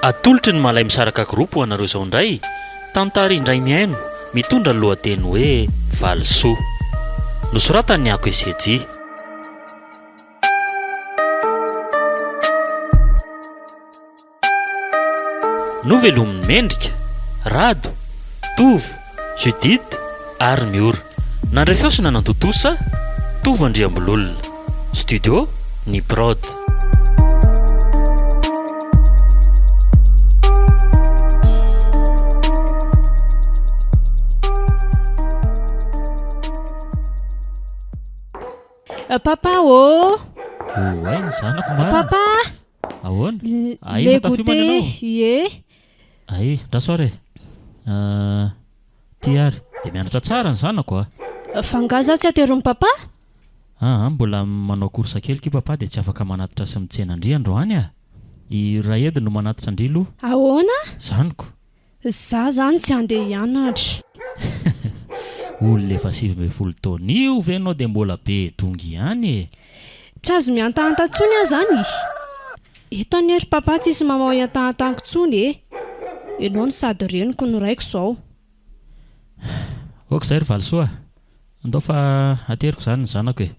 Atolotry ny Malay Misaraka Group ho anareo izao indray tantara indray mihaino mitondra ny lohateny hoe Valisoa. Nosoratan'i Ako Esejy. Novelomin'i Mendrika, Rado, Tovo, Judith ary Miora. Nandray feo sy nanantontosa, Tovo Andriambololona. Studio Ny Prod. Papa ô! Oay ny zanako marina. Papa! Ahoana? Ahy le goûter ie. Ahy, ndra soir e. Ah, ty ary dia mianatra tsara ny zanako a. Fa nga zaho tsy ateron'i papa? Aa, mbola manao course kely ky papa dia tsy afaka manatitra sy mitsena an-dry androany a. I Raedy no manatitra an-dry aloha. Ahoana? Zaniko. Za zany tsy handeha hianatra. Olona efa sivy ambin'ny folo taona io ve nao dia mbola be dongy ihany e! Tsy azo mihantahanta tsony ah zany e! Eto anie ry papa tsisy mamao iantahantanko tsony e! Enao no sady reniko no raiko zao. Ok zay ry valisoa a! Andao fa ateriko zany ny zanako e!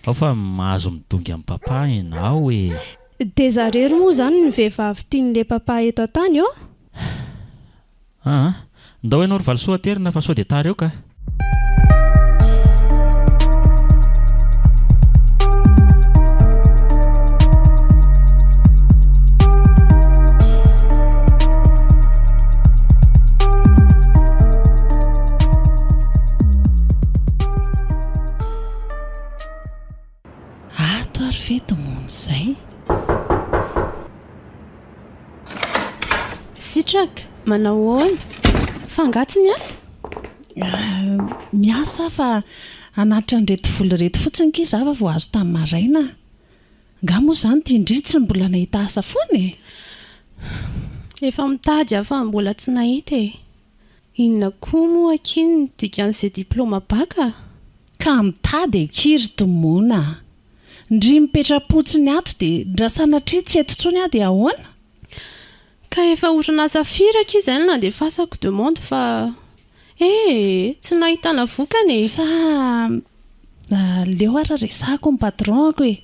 Ao fa mahazo midongy am papa enao ee. Dia zarery moa zany ny vehivavy tian'le papa eto an-tany ô? Aa aa ndao enao ry valisoa aterina fa sao dia tara eo ka. Ato ary ve tomony zay? Sitraka, manao ahoana? Fa angaha tsy miasa? Miasa aho fa hanatitra an'ireto vola ireto fotsiny akia za fa vao azo tamin'ny maraina. Angaha moa izany ity indry tsy mbola nahita asa foana e? Efa mitady aho fa mbola tsy nahita e. Inona koa moa akia ny dikan'izay diplaoma baka? Ka mitady akia ry Tomona a! Ndry mipetra-potsiny ato dia ndra sanatria tsy eto intsony aho dia ahoana? Ka efa orinasa firy akia izay no nandefasako demande fa ee tsy nahitana vokany e! Sa aleo ary resahako ny patron-ko e!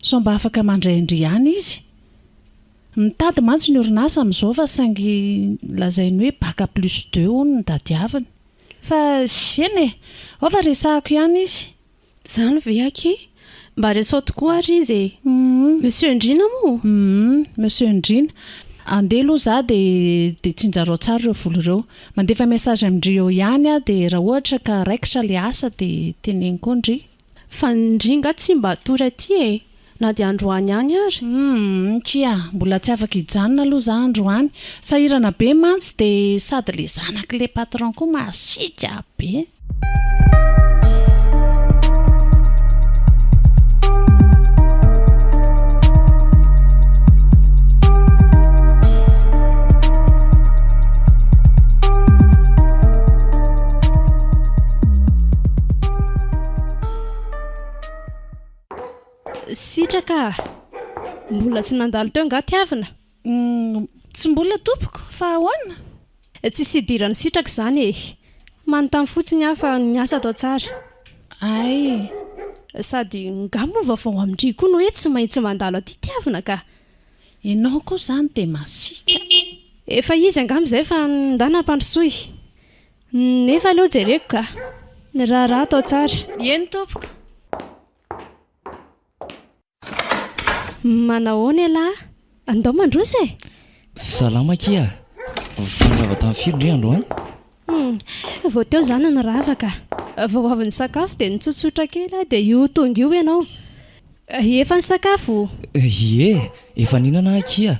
Sao mba afaka mandray an-dry ihany izy? Mitady mantsy ny orinasa amin'izao fa saingy lazainy hoe bac plus deux hono no tadiaviny. Fa eny e! Ao fa resahako ihany izy. Izany ve akia? Mba resao tokoa ary izy e! Monsieur Ndriana moa? Humm! Monsieur Ndriana! Andeha aloha izaho dia tsinjarao tsara ireo vola ireo. Mandefa message amin-dry eo ihany aho dia raha ohatra ka raikitra ilay asa dia teneniko eo ndry. Fa ndry nga tsy mba hatory aty e! Na dia androany any ary? Humm kia, mbola tsy afaka hijanona aloha za androany, sahirana be mantsy dia sady le zanaky le patron koa masiaka be. Sitraka a! Mbola tsy nandalo teo angaha tiavina? Humm! Tsy mbola tompoko, fa ahoana? Tsisy idiran'i Sitraka izany e! Manontany fotsiny aho fa ny asa atao tsara. Ay! Sady ngaha moa vao vao amin-dry koa no hoe tsy maintsy mandalo aty tiavina ka! Ianao koa izany dia masiaka! Efa izy angamba izay fa ndà nampandrosoy. Nefa aloha jereko ka. Ny raharaha atao tsara. Eny tompoko. Manahoana ialahy? Andao mandroso e! Salama akia a! Vao nirava tamin'ny firy ndry androany? Hum, vao teo za no nirava ka. Vao avy nisakafo dia nitsotsotra kely aho dia io tonga io ianao. Efa nisakafo? Ie, efa nihinana aho akia.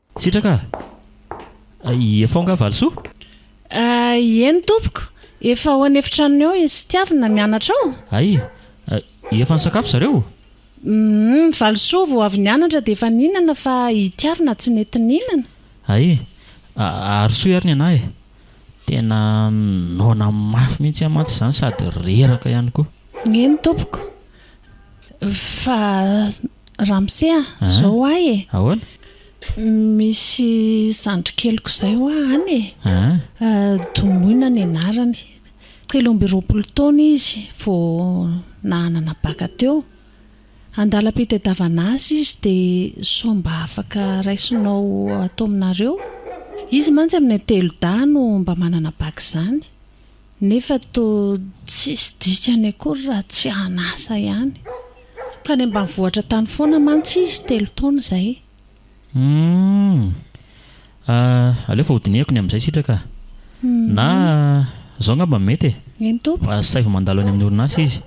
Sitraka a! Efa ao nga Valisoa? Ay, eny tompoko, efa ao an'efitranony ao i Sitiavina mianatra ao. Ay, efa nisakafo zareo? Uhm, Valisoa vao avy nianatra dia efa nihinana fa i Tiavina tsy nety nihinana. Ay, ary soa ary ny anah e! Tena noana mafy mihitsy aho mantsy izany sady reraka ihany koa. Eny tompoko. Fa ramose a, zao ho ahy e. Ahoana? Misy zandry keliko zay hoa any e. Domoina ny anarany. Telo amby roapolo taona izy vao nahanana baka teo. Andalam-pitadiavana asa izy dia sao mba afaka raisinao ato aminareo? Izy mantsy amin'ny telo dahy no mba manana baka izany. nefa toa tsisy dikany akory raha tsy an'asa ihany. Tany ambanivohitra tany foana mantsy izy telo taona izay. Humm. Ah, aleo fa hodinihako ny amin'izay sitraka ah. Na izao angamba no mety e. Eny tompoko. Asaivo mandalo any amin'ny orinasa izy.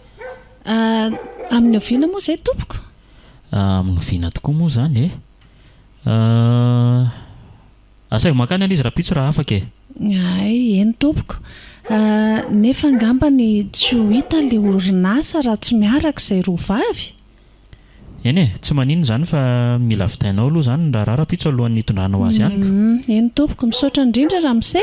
Ah, amin'ny oviana moa izay tompoko? Ah, amin'ny oviana tokoa moa izany e? Ah. Asaivo mankany any izy rapitso raha afaka e. Hay, eny tompoko. Nefa angambany tsy ho hita ilay orinasa raha tsy miaraka izay roa vavy? Eny e, tsy maninona izany fa mila vidainao aloha izany ny raharaha rapitso alohan'ny hitondranao azy amiko. Eny tompoko, misaotra indrindra ramose.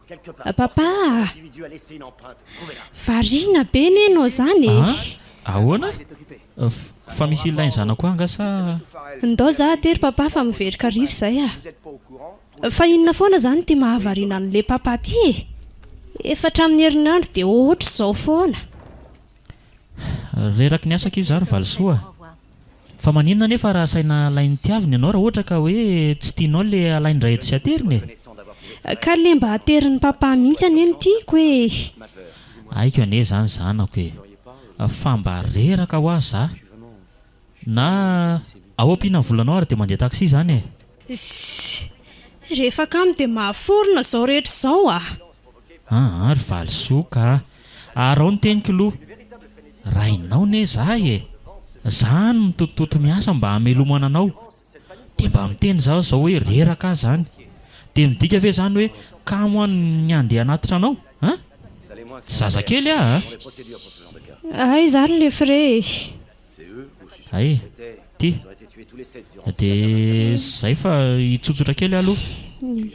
Papa ah! Variana be ne nao zany e! An? Ahoana? Fa misy ilainy zanako ahy nga sa? Ndao za aty ry papa fa miveroka arivo zay ah! Fa inona foana zany ity mahavariana anle papa ity e! Efa hatramin'ny herinandro dia ohatr'izao foana! Reraky ny asa akia za ry Valisoa ah! Fa maninona anefa raha asaina alain'ny tiaviny ianao raha ohatra ka hoe tsy tianao ilay alain-dray etsy sy ateriny e? Ka le mba aterin'i papa mihitsy anie no tiako ee. Haiko anie zany zanako e! Fa mba reraka hoa za! Na ao ampiana ny volanao ary dia mandeha taxi zany e! Ssy! Rehefa kamo dia mahaforona izao rehetra izao a! Aa ry valisoa ka! Arao ny teniko lo! Rainao ne zaho e! Za any mitotototo miasa mba hamelomana anao, de mba miteny zaho zao hoe reraka aza any, de midika ve zany hoe kamo any ny handeha hanatitra anao a! Tsy zazakely aho a! Aiza ary le frais e! Hay, ty, dia izay fa hitsotsotra kely aho aloha,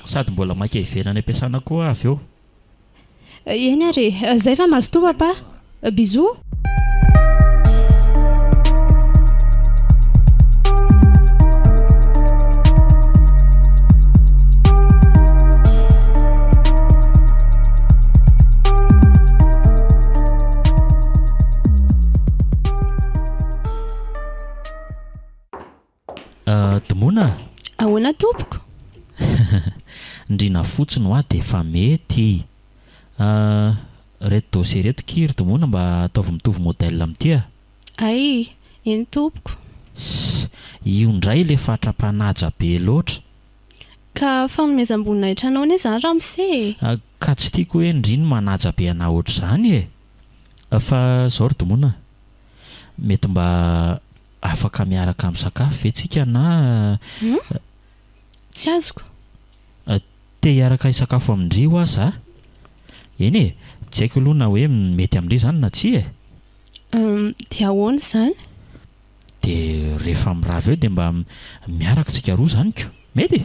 sady mbola maika hiverina any am-piasana koa aho avy eo. Eny ary e, izay fa mazotoa Papa. Bisous. Admona a! Ahoana tompoko? Ndriana fotsiny hoa dia efa mety. Ireto dossier ireto ki ry Dmona mba ataovy mitovy modèle amin'ity a! Ay! Eny tompoko. Ss! Io indray ilay fatra-panaja be loatra. Ka fanomezam-boninahitra anao anie izany ramose e! Ka tsy tiako hoe ndry ny manaja be anà ohatr'izany e! Fa zao ry Domona a! Mety mba afaka miaraka misakafo ve tsika na. Hum? Tsy azoko. Te hiaraka hisakafo amin-dry hoa za? Eny e, tsy haiko aloha na hoe mety amin-dry izany na tsia e! Hum, dia ahoana izany? Dia rehefa mirava eo dia mba miaraka tsika roa izany ko! Mety?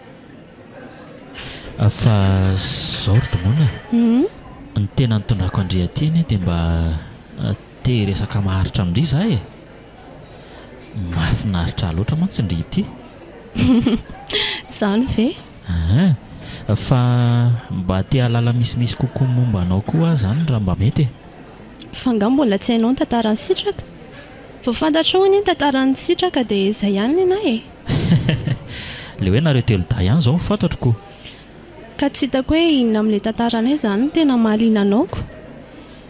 Fa zao ry Domoina a, ny tena nitondrako an-dry aty anie dia mba te hiresaka maharitra amin-dry za e! Mahafinaritra ahy loatra mantsy ndry ity. Izany ve? Hein! Fa mba te hahalala misimisy kokoa momba anao koa aho izany raha mba mety e! Fa angaha mbola tsy hainao ny tantaran'i Sitraka? Vao fantatrao anie ny tantaran'i Sitraka dia izay ihany nenaha e! Le hoe nareo telo dahy ihany zao fantatro ko. Ka tsy hitako hoe inona amin'ilay tantaranay izany no tena mahaliana anao ko.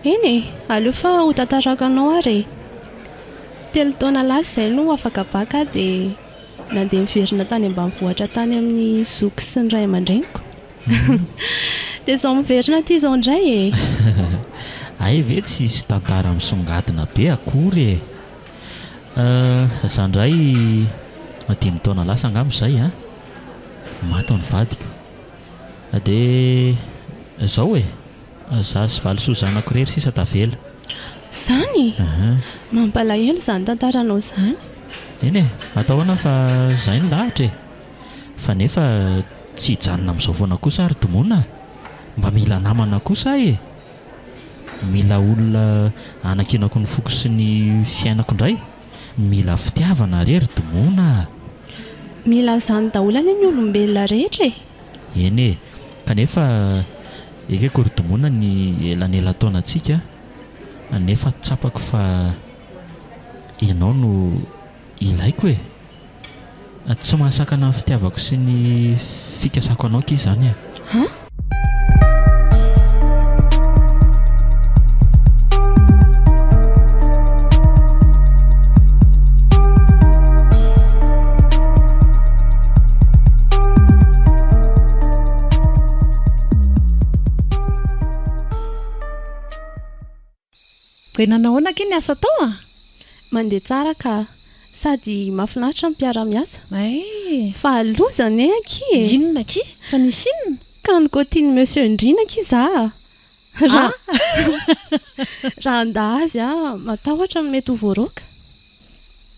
Eny e, aleo fa ho tantarako anao ary e. Telo taona lasa izay no afaka bac aho dia nandeha niverina tany ambanivohitra tany amin'ny zoky sy ny ray aman-dreniko. Dia izao miverina aty izao indray e. Hay ve tsisy tantara misongadina be akory e. Za ndray dimy taona lasa angamba zay an, maty ny vadiko, de zao e, za sy valisoa zanako rery sisa tavela. Zany? Mampalahelo zany tantaranao zany. Eny e, atao ahoana fa zay ny lahatra e. Fa nefa tsy hijanona amizao foana kosa ary Domona a, mba mila namana kosa aho e. Mila olona hanakianako ny foko sy ny fiainako indray? Mila fitiavana re ry Dmona a! Mila an'izany daholo anie ny olombelona rehetra e! Eny e! Kanefa ekeko ry Dmona ny elanelan-taonantsika nefa tsapako fa ianao no Ilaiko e! Tsy mahasakana ny fitiavako sy ny fikasako anao ki izany e! Dia nanao ahoana akia ny asa tao a? Mandeha tsara ka. Sady mahafinaritra ny mpiara-miasa. Fa loza anie akia e! Inona akia? Fa nisy inona? Ka nikotian'i Monsieur Ndriana akia za a! Raha raha handà azy aho matahotra ny mety ho voaroaka.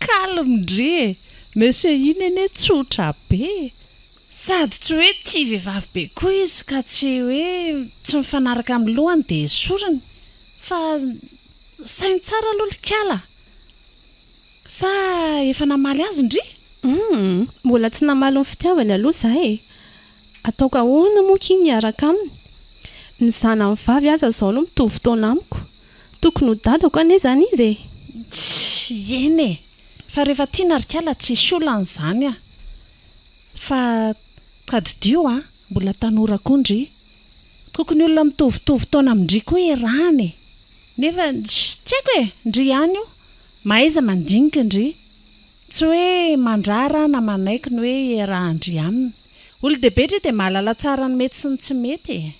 Calme ndry e! Monsieur iny anie tsotra be e! Sady tsy hoe tia vehivavy be koa izy ka tsy hoe tsy mifanaraka amin'ny lohany dia esoriny fa saino tsara aloha likala a! Sa efa namaly azy ndry? Humm! Mbola tsy namaly ny fitiavany aloha za e! Ataoko ahoana moa k'iny hiaraka aminy? Ny zanany vavy aza izao no mitovy taona amiko! Tokony ho dadako anie izany izy e! Tsy! Eny e! Fa rehefa tiana ry kala tsisy olana izany a! Fa tadidio a, mbola tanora koa ndry. Tokony olona mitovitovy taona amin-dry koa iarahana e. Nefa tsy haiko e, ndry ihany io, mahaiza mandinika ndry. Tsy hoe mandrara na manaiky ny hoe iarahan-dry aminy. Olon-dehibe ndry dia mahalala tsara ny mety sy ny tsy mety e.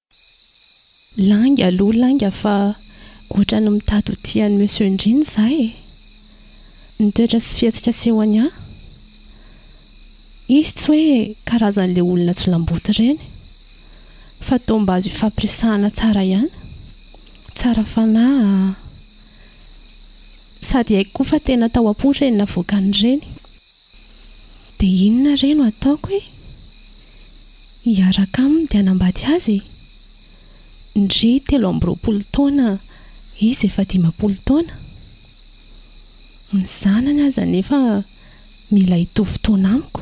Lainga aloha lainga fa ohatran'ny mitady ho tian'i Monsieur Ndriny izaho e! Ny toetra sy fihetsika asehony ahy? Izy tsy hoe karazan'ilay olona jolamboto ireny, fa toa mba azo ifampiresahana tsara ihany, tsara fanahy, sady haiko koa fa tena tao am-po ireny navoakan'ireny. Dia inona re no ataoko e? Hiaraka aminy dia hanambady azy e? Ndry telo amby roapolo taona izy efa dimampolo taona. Ny zanany aza anefa mila hitovy taona amiko.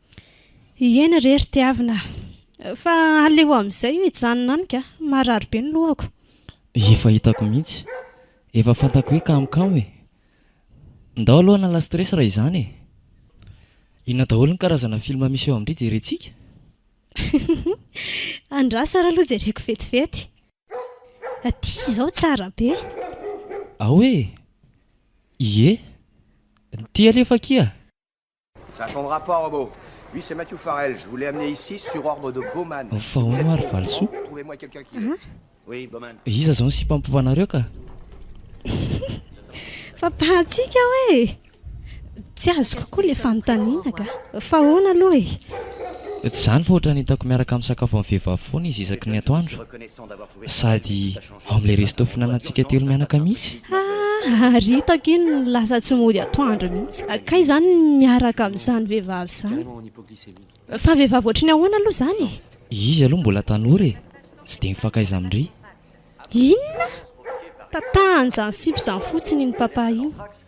Ieny re ry tiavina a! Fa aleo amin'izay io hijanona any ka! Marary be ny lohako. Efa hitako mihitsy. Efa fantako hoe kamokamo e! Ndao aloha hanala stress raha izany e! Inona daholo ny karazana film misy eo amin-dry jerentsika? Andraso ary aloha jereko vetivety. Aty izao tsara be. Ao e! Ie! Ty alefa akia! Ça ton rapport homo? Oui c'est Matthew Farrell, je vous l'ai amené ici sur ordre de Bowman. Fa hono ary valisoa? Trouvez-moi quelqu'un qui le. Oui Bowman. Iza zao ny sipa mipovanareo ka? Fampahantsiaka aho e! Tsy azoko koa le fanontaniana ka. Fa ahoana aloha e? Tsy izany fa ohatran'ny hitako miaraka misakafo amin'ny vehivavy foana izy isaky ny atoandro. Sady Ao amin'ilay resto fihinanantsika telo mianaka mihitsy. Haa, ary hitako iny lasa tsy mody atoandro mihitsy. Kay izany ny miaraka amin'izany vehivavy izany. Fa vehivavy ohatry ny ahoana aloha izany e? Izy aloha mbola tanora e, tsy dia mifankaiza amin-dry. Inona? Tatan'izany sipa izany fotsiny iny Papa iny.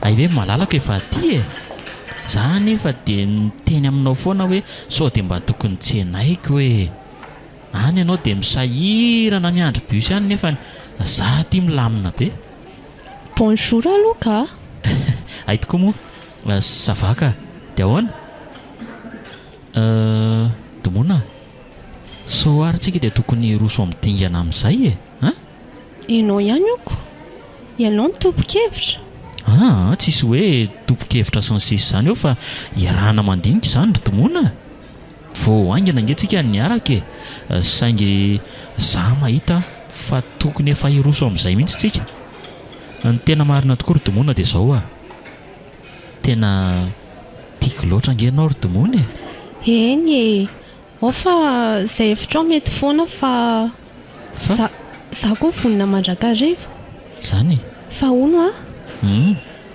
Hay ve malalako efa aty e! Za anefa dia miteny aminao foana hoe sao dia mba tokony tsenaiko e! Any ianao dia misahirana miandry bus any nefany za aty milamina be. Bonjour aloha ka! Hay tokoa moa! Ça va ka! Dia ahoana? Dmona, sao ary tsika dia tokony hiroso amin'ny dingana amin'izay e! An! Ianao ihany oko. Ianao no tompon-kevitra. Aa, tsisy hoe tompon-kevitra sy ny sisa izany eo fa iarahana mandinika izany ry Domona a! Vao haingana ange tsika no niaraka e! Saingy za mahita fa tokony efa hiroso amin'izay mihitsy tsika. Ny tena marina tokoa ry Domona dia izao a! Tena tiako loatra ange ianao ry Domona e! Eny e! Ao fa izay hevitrao mety foana fa za za koa vonona mandrakariva. Zany e. Fa hono a!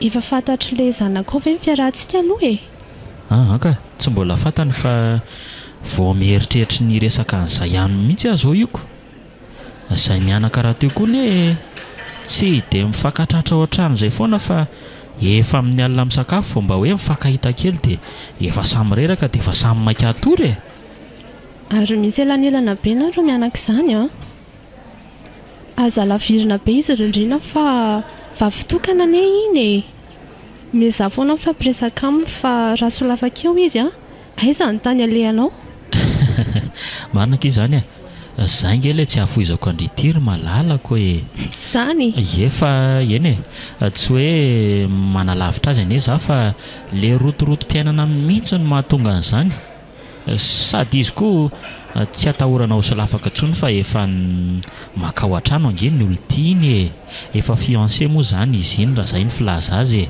Efa fantatry le zanakao ve ny fiarahantsika aloha e? Aa ka! Tsy mbola fantany fa vao mieritreritry ny hiresaka an'izay aminy mihitsy aho zao io ko! Izay mianaka rahateo koa anie tsy dia mifankatratra ohatran'izay foana fa efa amin'ny alina misakafo vao mba hoe mifankahita kely dia efa samy reraka dia efa samy maika hatory e! Ary misy elanelana be nareo mianaka izany an! Aza lavirina be izy rindrina fa vavy tokana anie iny e! Omezà foana mifampiresaka aminy fa raha solafaka eo izy an! Aiza ny tany alehanao? Marina akia izany e! Zay ange ilay tsy hahafoizako an-dry ity ry malalako e! Izany? Ie fa eny e! Tsy hoe manalavitra azy anie za fa ilay rotorotom-piainana mihitsy no mahatonga an'izany. Sady izy koa tsy atahorana ho solafaka intsony fa efa makao an-trano ange ny olon-tiany e! Efa fiancé moa izany izy iny raha izay ny filaza azy e!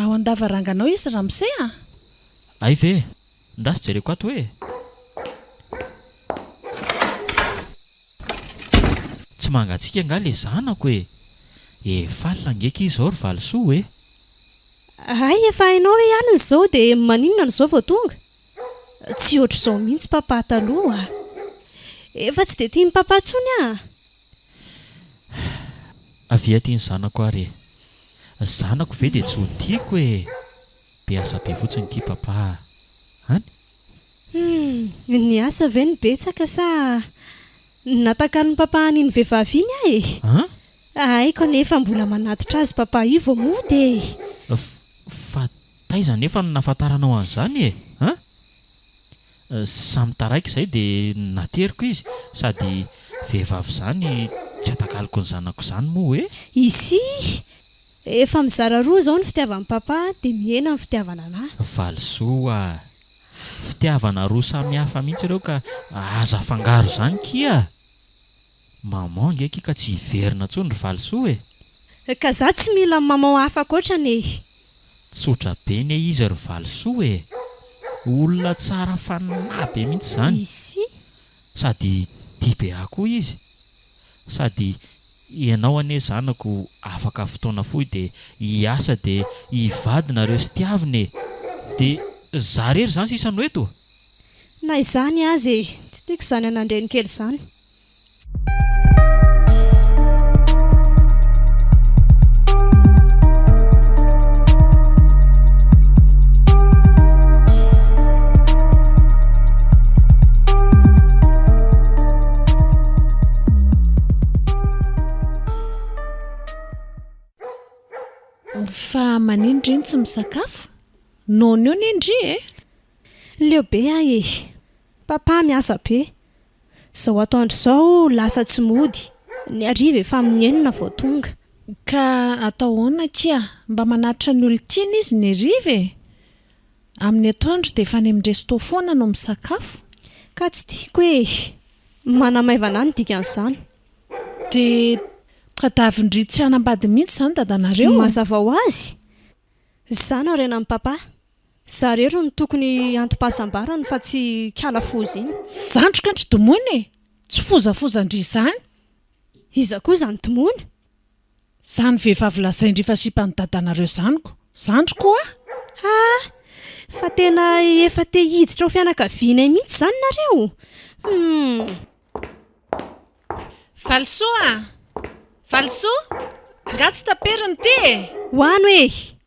Ao an-davaranganao izy ramose a! Hay ve! Ndraso jereko ato hoe! Tsy mangatsiaka angaha le zanako e! Efaly ngeky izao ry valisoa e! Hay efa hainao hoe alina izao dia maninona no izao vao tonga? Tsy ohatr'izao mihitsy papa taloha a! Efa tsy dia tian'i papa intsony aho a! Avia aty ny zanako ary e! Zanako ve dia tsy ho tiako e! Be asa be fotsiny ity papa a! Any? Humm! Ny asa ve no betsaka sa ny natakalon'i papa an'iny vehivavy iny aho e! An? Haiko anefa mbola manatitra azy papa io vao mody e! Fa taiza anefa no nahafantaranao an'izany e! An? Samy taraiky izay dia nateriko izy sady vehivavy izany tsy atakaloko ny zanako izany moa hoe. Izy efa mizara roa izao ny fitiavan'i Papa dia mihena ny fitiavana anah. Valisoa a! Fitiavana roa samihafa mihitsy ireo ka aza afangaro izany kia! Maman nge akia ka tsy hiverina tsony ry valisoa e! Ka za tsy mila maman hafa ankoatra anie e! Tsotra be ne izy ry valisoa e! Olona tsara fanahy be mihitsy zany! Izy? Sady tia be ahy koa izy! Sady ianao anie zanako afaka fotoana fohy dia hiasa dia hivady nareo sy tiavina e! Dia za rery zany sisa no eto? Na izany aza e! Tsy tiako izany anandrenikely izany. Fa manin dry no tsy misakafo? Nono io anie ndry e! Leo be ahy e! Papa miasa be. Izao atoandro izao lasa tsy mody, ny hariva efa amin'ny enina vao tonga. Ka atao ahoana akia? Mba manatitra ny olon-tiany izy ny hariva e! Amin'ny atoandro dia efa any amin'ny resto foana no misakafo. Ka tsy tiako e! Manamaivana ahy ny dikan'izany. Dia tadavin-dry tsy hanambady mihitsy izany dadanareo? Mazava ho azy, izaho no harenan'i Papa. Za rery no tokony antom-pahasambarany fa tsy kala foza iny. Zandriko an-dry Domony e! Tsy fozafozan-dry izany. Iza koa izany Domony? Izany vehivavy lazain-dry fa sipan'i dadanareo izany ko! Zandriko a! Ha! Fa tena efa te hiditra ho fianakavianay mihitsy izany nareo? Humm. Valisoa a! Valisoa! Nga tsy taperina ity e! Ho ano e!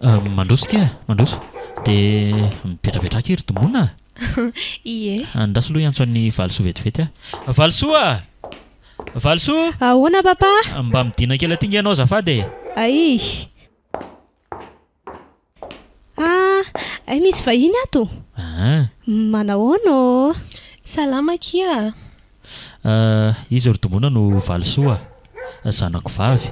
Hum, mandroso ity e, mandroso. Dia mivetravetra aky ry Domona a! Ie. Andraso aloha hiantso an'i Valisoa vetivety aho. Valisoa a! Valisoa! Ahoana Papa? Mba midina kely aty nge ianao azafady e! Aii! Ah! Ay misy vahiny ato! Aa! Manahoana ô? Salama akia a! Ah, iza ry dongona no valisoa ah? Zanako vavy.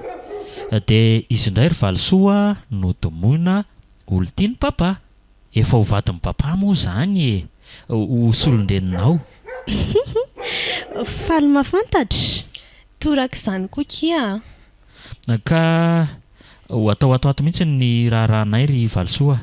Dia izy indray ry valisoa no domoina olon-tian'i Papa. Efa ho vadin'i Papa moa izany e! Ho solon-dreninao. Faly mahafantatra. Toraka izany koa kia ah! Ka ho atao ato ho ato mihitsy ny raharahanay ry valisoa ah!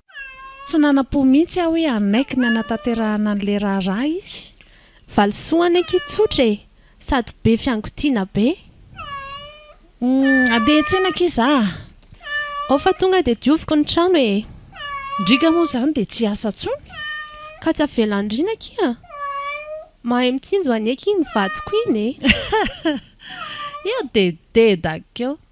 Tsy nanam-po mihitsy aho hoe hanaiky ny hanatanterahana an'ilay raharaha izy. Valisoa any akia tsotra e! Sady be fiangotiana be. Handeha hiantsena akia za a! Ao fa tonga dia dioviko ny trano e! Ndriga moa izany dia tsy hiasa intsony? Ka tsy avela andriana akia! Mahay mitsinjo anie akia iny vadiko iny e! Io dededa akia!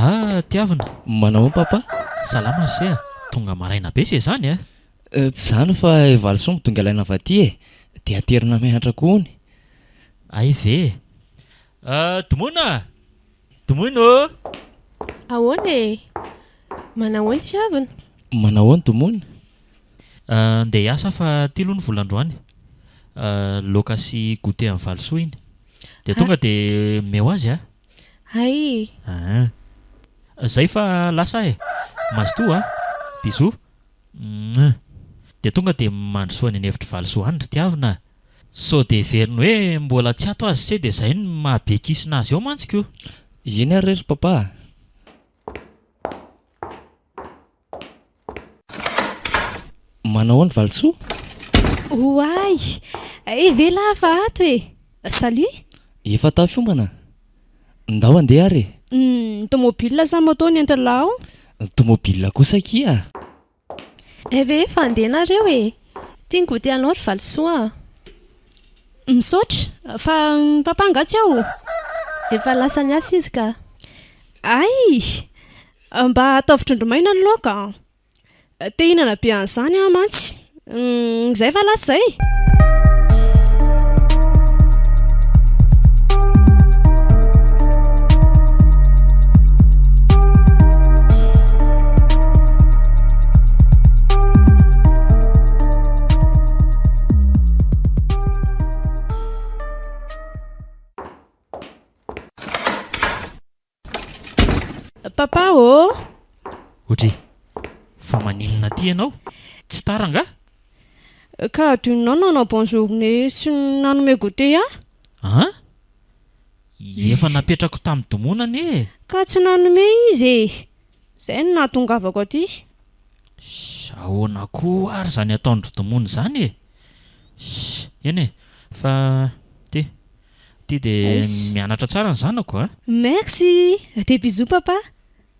Ah Tiavina, manao papa? Salama ry se a! Tonga maraina be se zany a! Eh, tsy zany fa i Valisoa midongy alaina avy aty e! Dia aterina mianatra ko hono! Hay ve e! Ah, Domona a! Domoina ô! Ahoana e! Manahoana Tiavina? Manahoana Domona? Ndeha hiasa fa ty aloha ny vola androany Loaka sy goûter an'i Valisoa iny Dia tonga dia omeo azy a Hay Ahh Zay fa lasa aho e Mazotoa a Bisous Meuh Dia tonga dia mandrosoa any an'efitr'i Valisoa any ry tiavina a Sao dia heveriny hoe mbola tsy ato azy tse dia zay no maha be kisina azy eo mantsy ko! Eny ary re ry Papa a! Manao ahoana Valisoa? Oay! Evela aho fa ato e! Salut! Efa tafiombana? Ndao andeha ary e! Ny tomobile sa moto no entin'lah ao? Tomobile kosa akia! Eh ve efa andeha nareo e! Tia ny goûter anao ry Valisoa a! Misaotra! Fa ny papa angaha tsy ao? Efa lasa niasa izy ka! Ay! Mba ataovy trondro maina ny laoka an! Te hinana be an'izany aho mantsy. Izay va lasa izay? Papa ô! Audrey, fa maninona aty ianao? Tsy tara angaha? Ka adinonao ny nanao bonne journée sy ny nanome goûter ahy? An? Efa napetrako tamin'ny domona anie e! Ka tsy nanome izy e! Izay no nahatongavako aty. Sh! Ahoana koa ary izany ataon-dry domona izany e! Sh! Eny e! Fa, ty. Ty de mianatra tsara ny zanako a! Merci! Des bisous papa!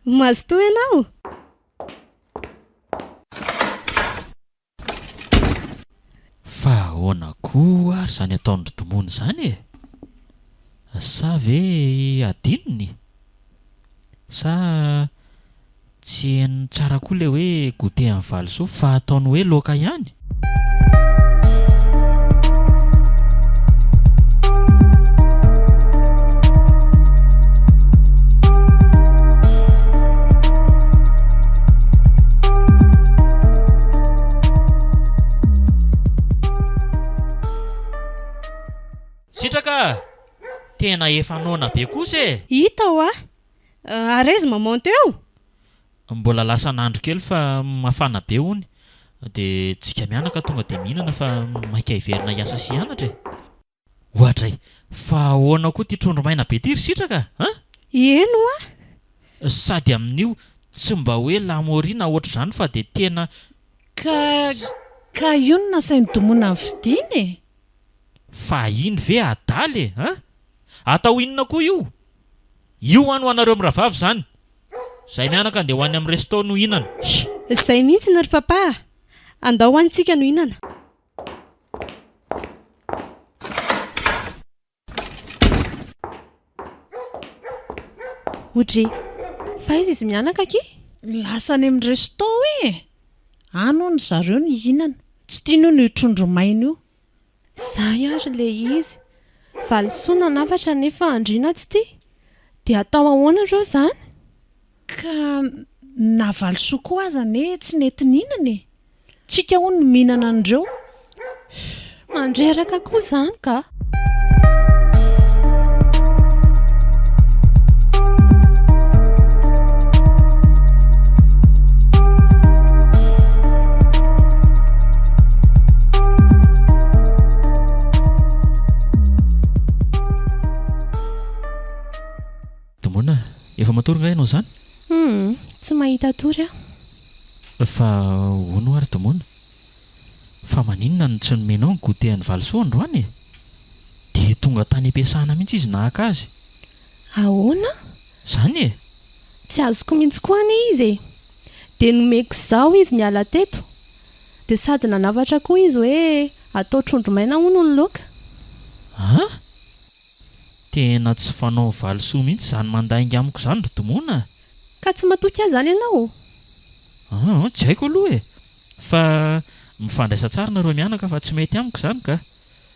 Mazotoa ianao! Fa ahoana koa ary izany ataon-dry Domony izany e? Sa ve adinony? Sa. Tsy henony tsara koa ilay hoe goûter an'i Valisoa fa ataony hoe laoka ihany? Sitraka a! Tena efa noana be kosa e! Hita hoa Arez maman teo? Mbola lasan'andro kely fa mafana be hono de tsika mianaka tonga de mihinana fa maika hiverina hiasa sy hianatra e! Oadray! Fa ahoana koa ty trondro maina be ty ry sitraka a! Eny hoa! Sady amin'io tsy mba hoe lamorina ohatr'izany fa de tena Ka ka io no nasain'i Domona nividiana e! Fa iny ve adala e! a! Atao inona koa io? Io hoan ho anareo mirahavavy zany. Zay mianaka ndeha ho any am resto no hinana. Hii. Zay mihitsiny ry papa a! Andao any tsika no hinana. Odry, fa aiza izy mianaka aky? Lasa any am resto ee! Any hono zareo no hihinana. Tsy tiany hono io trondro maina io. Zay ary le izy. Valisoa nanafatra nefa Andriana tsy tia? Dia atao ahoana reo zany? Ka na valisoa koa aza anie tsy nety nihinana e! Tsika hono no mihinana an'ireo. Mandreraka koa zany ka! Domona, efa matory nga ianao izany? Hum, tsy mahita tory aho. Fa hono ary Domona, fa maninona no tsy nomenao ny goûter an'i Valisoa androany e? Dia tonga tany am-piasana mihitsy izy nahaka azy. Ahoana? Izany e! Tsy azoko mihitsy koa anie izy e! Dia nomeko izaho izy niala teto, dia sady nanavatra koa izy hoe atao trondro maina hono ny loaka. An! Tena tsy fanao valisoa mihitsy izany mandainga amiko izany ry Domona a! Ka tsy matoky ahy izany ianao? An! Tsy haiko aloha e! Fa mifandraisa tsara nareo mianaka fa tsy mety amiko izany ka!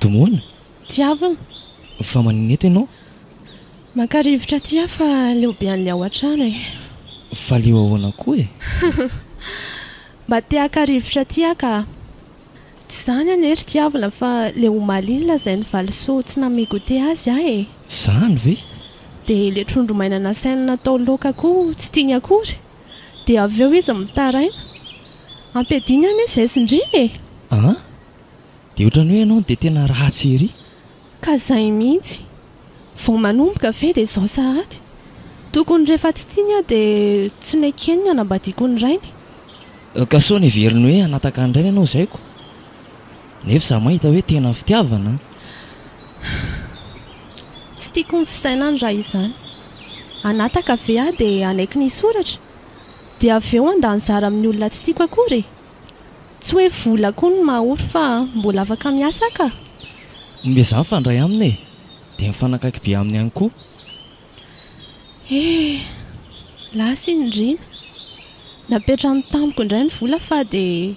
Domoina, tiavina, fa manina eto ianao? Mankarivotra aty aho fa leo be an'ilay ao an-trano e. Fa leo ahoana koa e? Mba te haka rivotra aty aho ka. Tsy izany anie ry tiavina fa leo omaly iny lazain'i Valisoa tsy nanome goûter azy aho e. Izany ve? Dia ilay trondro maina nasainy natao laoka koa tsy tiany akory. Dia avy eo izy mitaraina. Ampiadiany anie izay tsindriana e! An! Dia ohatran'ny hoe ianao dia tena ratsy ery. Ka izay mihitsy. Vao manomboka ve dia izao sahady. Tokony rehefa tsy tiany aho dia tsy nekeny ny hanambadiako ny rainy. Ka sao neveriny hoe hanataka ny rainy ianao izay ko? Nefa izaho mahita hoe tena fitiavana an! Tsy tiako ny fisainany raha izany. Hanataka ve aho dia hanaiky ny hisoratra? Dia avy eo handà anjara amin'ny olona tsy tiako akory e! Tsy hoe vola koa no maha ory fa mbola afaka miasa aho ka! Omezà mifandray aminy e! Dia mifanakaiky be aminy ihany koa. Hee! Lasa i Nirina. Napetrany tamiko indray ny vola fa dia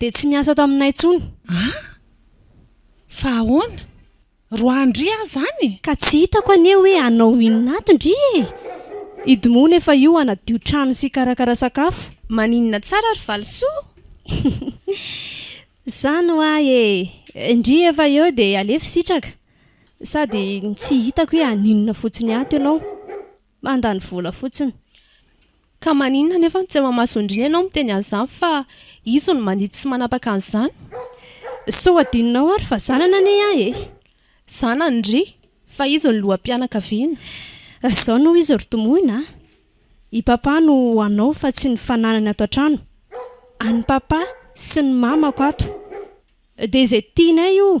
Dia tsy miasa ato aminay intsony. Ah? Fa ahoana? Roa andry aho izany? Ka tsy hitako anie hoe hanao inona ato ndry e! Hidimonina efa io hanadio trano sy hikarakara sakafo. Maninona tsara ry valisoa? Izany hoa e! Ndry efa eo dia alefo sitraka. Sady tsy hitako hoe haninona fotsiny ato ianao. mandany vola fotsiny. Ka maninona anefa no tsy amamason-driny ianao miteny an'izany fa izy no mandidy sy manapaka an'izany? Sao adinonao ary fa zanany anie aho e! Zanany ry! Fa izy no loham-pianakaviana. Izao no izy ry Tomoina a! I Papa no ho anao fa tsy ny fananany ato an-trano. An'i Papa sy ny Mamako ato. Dia izay tianay io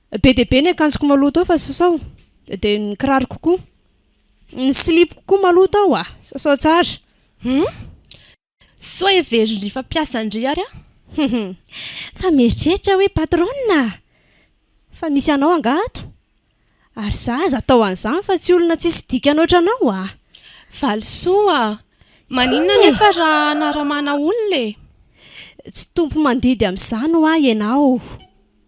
Be dia be ny akanjoko maloto ao fa sasao, dia ny kiraroko koa. Ny silipoko koa maloto ao a! Sasao tsara. Hum? Soa heverin-dry fa mpiasan-dry ary aho. Fa mieritreritra hoe patronne a! Fa misy anao angaha ato? Ary za aza atao an'izany fa tsy olona tsisy dikany ohatranao a! Valisoa a! Maninona anefa raha anaramana olona e? Tsy tompo mandidy amin'izany ho'a ianao.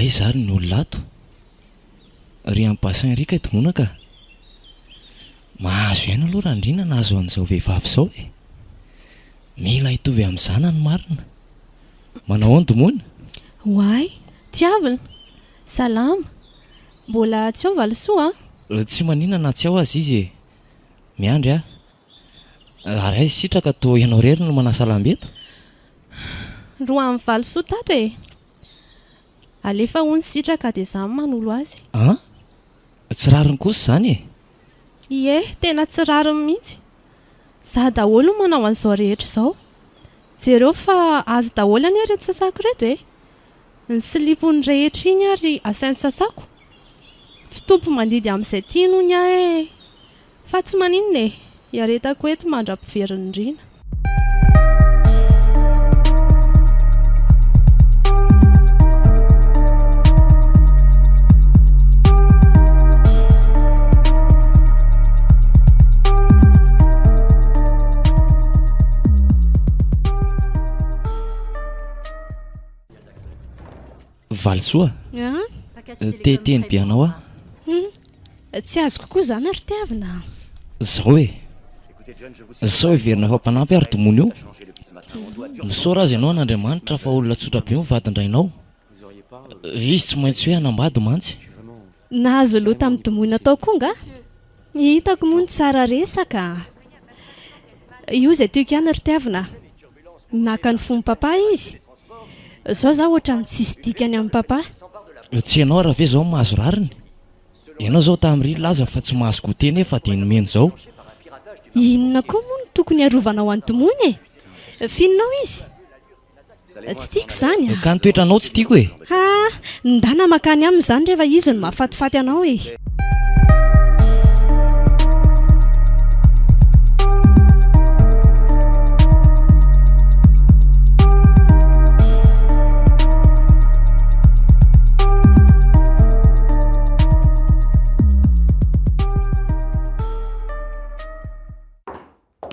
Aiza ary ny olona ato? Ry any Bassin ry kay dongona ka! Mahazo aina aloha Randriana nahazo an'izao vehivavy izao e! Mila hitovy amin'ny zanany marina. Manao ahoana dongona? Oay, tiavina! Salama! Mbola tsy ao valisoa an? Tsy manina na tsy ao aza izy e! Miandry aho. Ary hay sitraka toa ianao irery no manasa lamba eto? Roa amby valo soa tato e! Alefa hono sitraka dia izaho no manolo azy. An! Tsy rariny kosa izany e! Ie, tena tsy rariny mihitsy. Izaho daholo no manao an'izao rehetra izao. Jereo fa azy daholo anie ireto sasako ireto e! Ny silipony rehetra iny ary asainy sasako? Tsy tompo mandidy amin'izay tiany hono aho e! Fa tsy maninona e! Iaretako eto mandra-piverin'ny riana. Valisoa, te hiteny be anao aho. Hum, tsy azoko koa izany ry Tiavina a! Zao e! Sao heverina fa mpanampy ary domono io? Misaora aza ianao an'Andriamanitra fa olona tsotra be ny vadin-drainao. Izy tsy maintsy hoe hanambady mantsy. Nahazo loha tamin'ny domoina tao koa nga? Ny hitako moa ny tsara resaka a! Io izay tiako ihany ry Tiavina a! Naka ny fon'i Papa izy. Izao za ohatran'ny tsisy dikany amin'i Papa. Tsy ianao ary ve izao no mahazo rariny? Ianao izao tamin'iriny nilaza fa tsy mahazo goûter nefa dia nomeny izao. Inona koa moa no tokony hiarovanao an'i Domoina e? Fininao izy? Tsy tiako izany a! Ka ny toetranao tsy tiako e! Ha! Ny dana mankany aminy izany rehefa izy no mahafatifaty anao e!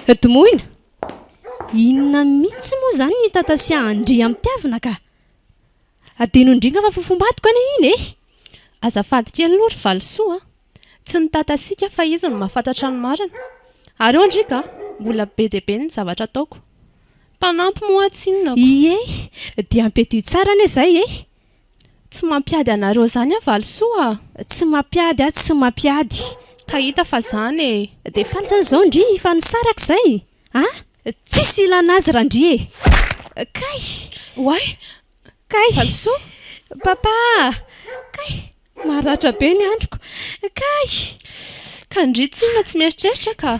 Des Moines? Inona mitsy moa zany ny tata sy andriamitiavina ka? Adino indringa fa fofombadiko anie iny eh! Azafady kely aloha ry valisoa a! Tsy ny tata sika fa izy no mahafantatra ny marina. Ary eo ndry ka, mbola be dia be ny zavatra ataoko. Mpanampy moa tsinona ko. Iiey, dia ampiadio tsara anie zay eh! Tsy mampiady anareo zany ah valisoa ah. Tsy mampiady ah tsy mampiady ka hita fa zany e. Dia fantsany zao ndry fa nisaraka zay ah tsisy ilana azy ra ndry e. Kay! Oay! Kay! Valisoa! Papa ah! Kay! Maratra be ny androko! Kay! Ka ndry tsinona tsy mieritreritra ka!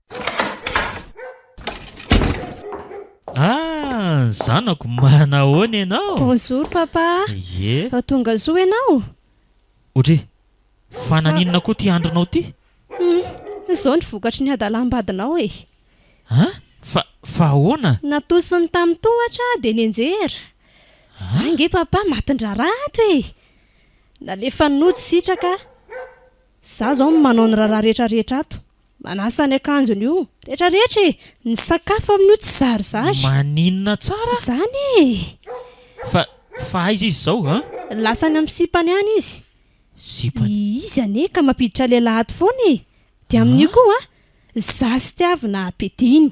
Ah, ny zanako, manahoana ianao? Bonjour papa. Ie. Fa tonga soa ianao? Ory, fa naninona koa ity andronao ity? Hum, izao ny vokatry ny hadalam-badinao e. An? Fa, fa ahoana? Natosiny tamin'ny tohatra aho dia nianjera. Za ange papa matin-draharaha ato e. Nalefan'ny nody sitraka aho. Za izao no manao ny raharaha rehetra rehetra ato. Manasa ny akanjony io rehetra rehetra e! Ny sakafo amin'io tsy zarizary. Maninona tsara? Izany e! Fa, fa aiza izy izao an? Lasa any amin'ny sipany any izy. Sipany? Izy anie ka mampiditra lehilahy ato foana e! Dia amin'io koa an! Za sy Tiavina ampiadiany.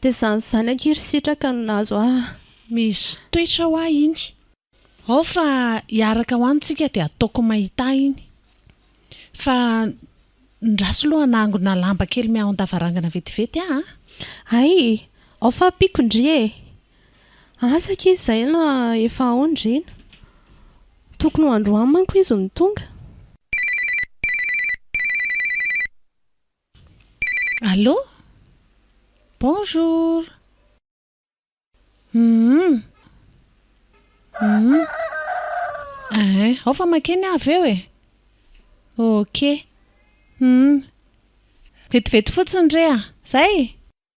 Dia izany izany akia ry sitraka no nahazo ahy. Misy toetra hoa iny. Ao fa hiaraka hoa ntsika dia ataoko mahita ahy iny. Fa ndraso loha hanangona lamba kely miahon-davarangana vetivety aho a! Hay! Ao fa ampiako ndry e! Asa akia izay na efa ao ndry na. Tokony ho androany manko izy no tonga. Allô? Bonjour! Humm! Humm! Ehe, ao fa makeny aho avy eo e! Ok! Humm! Vetivety fotsiny re a! Zay!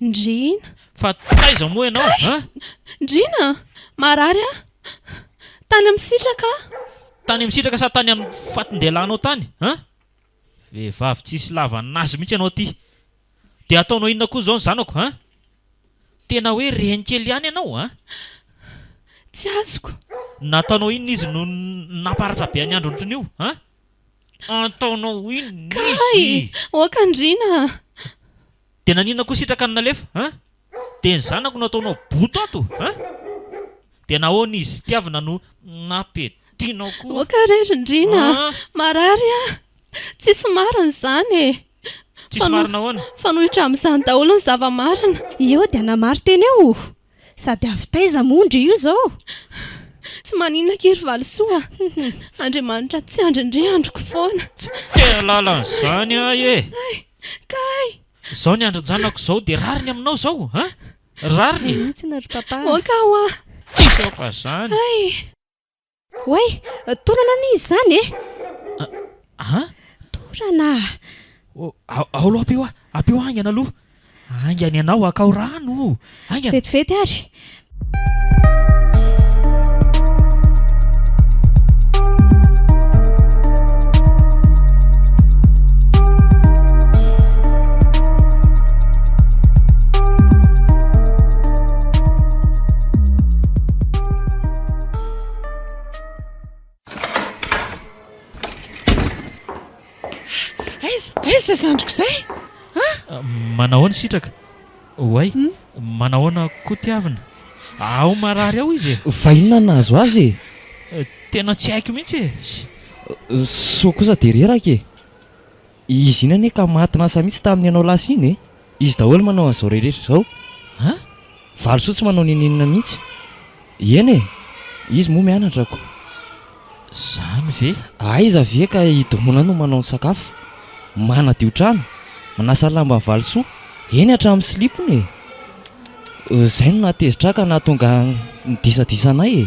Ndriana. Fa taiza moa ianao Kay! an? Ndriana! Marary aho. Tany amin'ny sitraka aho. Tany amin'ny sitraka sa tany amin'ny fatin-dehilahinao tany an? Vehivavy tsisy lavan'azy mihitsy ianao ity. Dia ataonao inona koa izao ny zanako an? Tena hoe reny kely ihany ianao an! Tsy azoko. Nataonao inona izy no namparatra be an'i Andry ohatran'io an? Ataonao inona Kay! izy? Oaka andriana a! Dia naninona koa sitraka ny nalefa a! Dia ny zanako no ataonao boto ato a! Dia nahoana izy tiavina no nampiadianao koa? Oaka re ry ndriana a! Marary aho! Tsisy marina izany e! Tsisy marina ahoana? Fanohitra amin'izany daholo ny zava-marina. Eo dia hanamari-tena eo o! Sady avy taiza moa ndry io izao? Tsy maninona akia ry Valisoa a! Andriamanitra tsy andry ndry andriko foana. Tsy tehalala an'izany ahy e! Hay! Kay! Izao ny andrin-janako izao dia rariny aminao izao a! Rariny! Tsy mihitsy na ry Papa a! Oka hoa! Tsisy aoka izany! Hay! Oay! Torana anie izy zany e! A! A! Torana! Ao aloha apio a! Apio haingana aloha! Haingana ianao hakao rano o! Haingana! Vetivety ary! Aiza aiza zay zandriko zay a? Ah, manahoana sitraka? Oay, hmm? manahoana koa tiavina? Ao marary ao izy e. Fa inona nahazo azy e? Eh, tena tsy haiko mihitsy e. Soa kosa de reraka e. Izy iny anie ka maty lasa mihitsy tamin'ny ianao lasa iny e! Izy daholo manao an'izao rehetra izao! Ha? Valisoa tsy manao n'inon'inona mihitsy! Eny e! Izy moa mianatra ko! Izany ve? Aiza ve ka i Domona no manao ny sakafo, manadio trano, manasa lamba an'i Valisoa, eny hatramin'ny silipony e! Izay no nahatezitra ahy ka nahatonga ny disadisa anay e!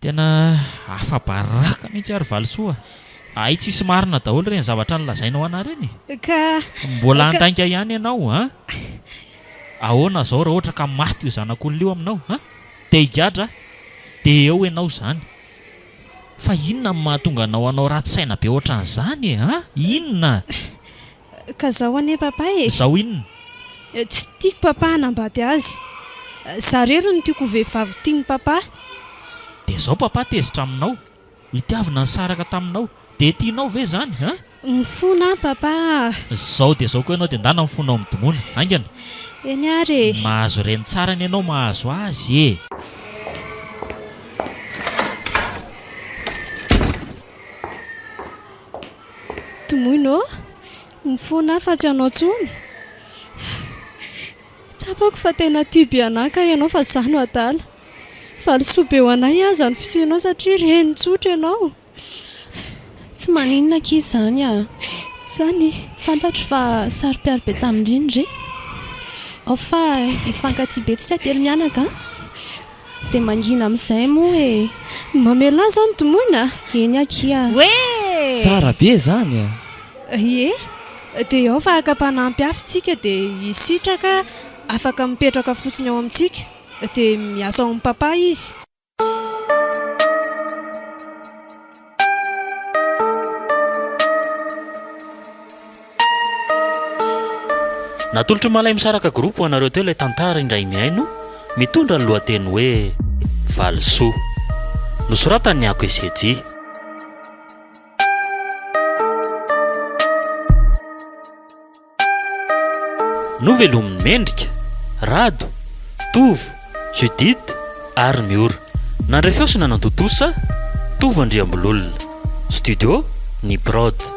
Tena afabaraka mihitsy ary Valisoa a! Hay tsisy marina daholo ireny zavatra nolazainao ana ireny e! Ka. Mbola handainga ihany ianao a! Ahoana izao raha ohatra ka maty io zanak'olona io aminao a! Dia higadra a! Dia eo ianao izany! Fa inona no mahatonga anao hanao ratsy saina be ohatran'izany e! A! Inona? Ka zao anie papa e! Zao inona? Tsy tiako papa hanambady azy. Za rery no tiako ho vehivavy tiany papa. Dia zao papa tezitra aminao. Itiavina nisaraka taminao. Dia tianao ve zany hein? Mifona aho papa ah! Zao dia zao koa ianao dia ndana mifona ao amin'ny dmona. Haingana. Eny ary e! Mahazo reny tsara anie ianao mahazo azy e! Tomoina ô! Mifona aho fa tsy anao tsony. Tsapako fa tena tia be anah kay ianao fa zah no adala. Valisoa be ho anay aza ny fisianao satria reny tsotra ianao. Tsy maninona ankizy izany a! Izany fantatro fa saro-piaro be tamin-dry ny re. Ao fa hifankatia be tsika telo mianaka a! Dia mangina amin'izay moa e! Mamelà izao ny tomoina? Eny akia! Hoe! Tsara be izany e! Ie! Dia ao fa haka mpanampy hafa isika dia i Sitraka afaka mipetraka fotsiny ao amintsika. Dia miasa ao amin'i Papa izy. Natolotr'i Malay Misaraka Group ho anareo teo ilay tantara indray mihaino mitondra ny lohateny hoe Valisoa. Nosoratan'i Ako Esejy. Novelomin'i Mendrika, Rado, Tovo, Judith ary Miora. Nandray feo sy nanantontosa, Tovo Andriambololona. Studio Ny Prod.